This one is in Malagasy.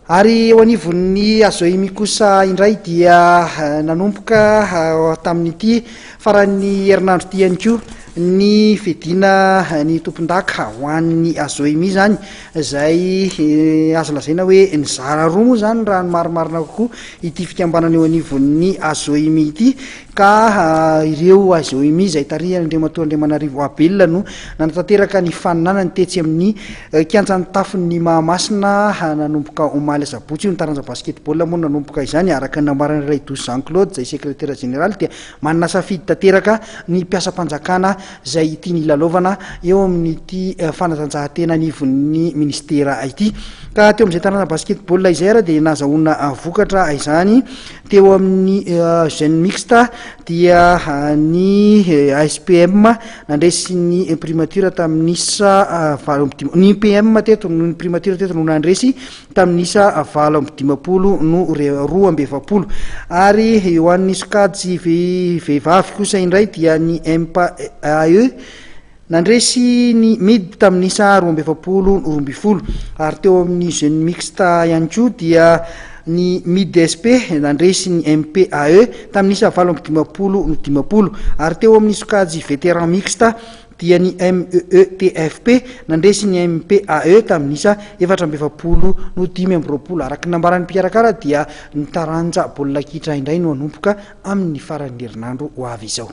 Ary eo anivon'ny Azoimi kosa indray dia nanomboka tamin'ity faran'ny herinandro ity ihany koa ny fidina ny tompondaka ho an'ny Azoimi izany izay azo lazaina hoe nizara roa moa izany raha ny marimarina kokoa ity fikambanana eo anivon'ny Azoimi ity ka ireo HZOMI izay tarihan' Andriamatoa Andriamanarivo Abela no nanatanteraka ny faninanany tetsy amin'ny kianjan'ny tafon'ny Mahamasina nanomboka omaly asabotsy io. Ny taranja basketball moa no nanomboka izany araka ny nambaran'i Raidoso Jean Claude izay sekretera jeneraly dia manana safidy tanteraka ny mpiasam-panjakana izay tiany hilalaovana eo amin'ity fanatanjahantena anivon'ny minisitera ity ka teo amin'izay taranja basketball izay ary dia nahazahoana vokatra izany Teo amin'ny Gen Mixte dia ny ASPM nandresy ny primature tamin'ny isa valo amby dimampolo, ny PM teto, ny primature teto no nandresy tamin'ny isa valo amby dimampolo no roa amby efapolo. Ary ho an'ny sokajy vehivavy kosa indray dia ny MPAE, Nandresy ny Mid tamin'ny isa roa amby efapolo no roa ambin'ny folo ary teo amin'ny Jeunes Mixte ihany koa dia ny Mid-SP nandresy ny MPAE tamin'ny isa valo amby dimampolo no dimampolo ary teo amin'ny sokajy Vétérans Mixte dia ny MEETFP nandresy ny MPAE tamin'ny isa efatra amby efapolo no dimy amby roapolo. Araka ny nambaran'ny mpikarakara dia ny taranja baolina kitra indray no hanomboka amin'ny faran'ny herinandro ho avy izao.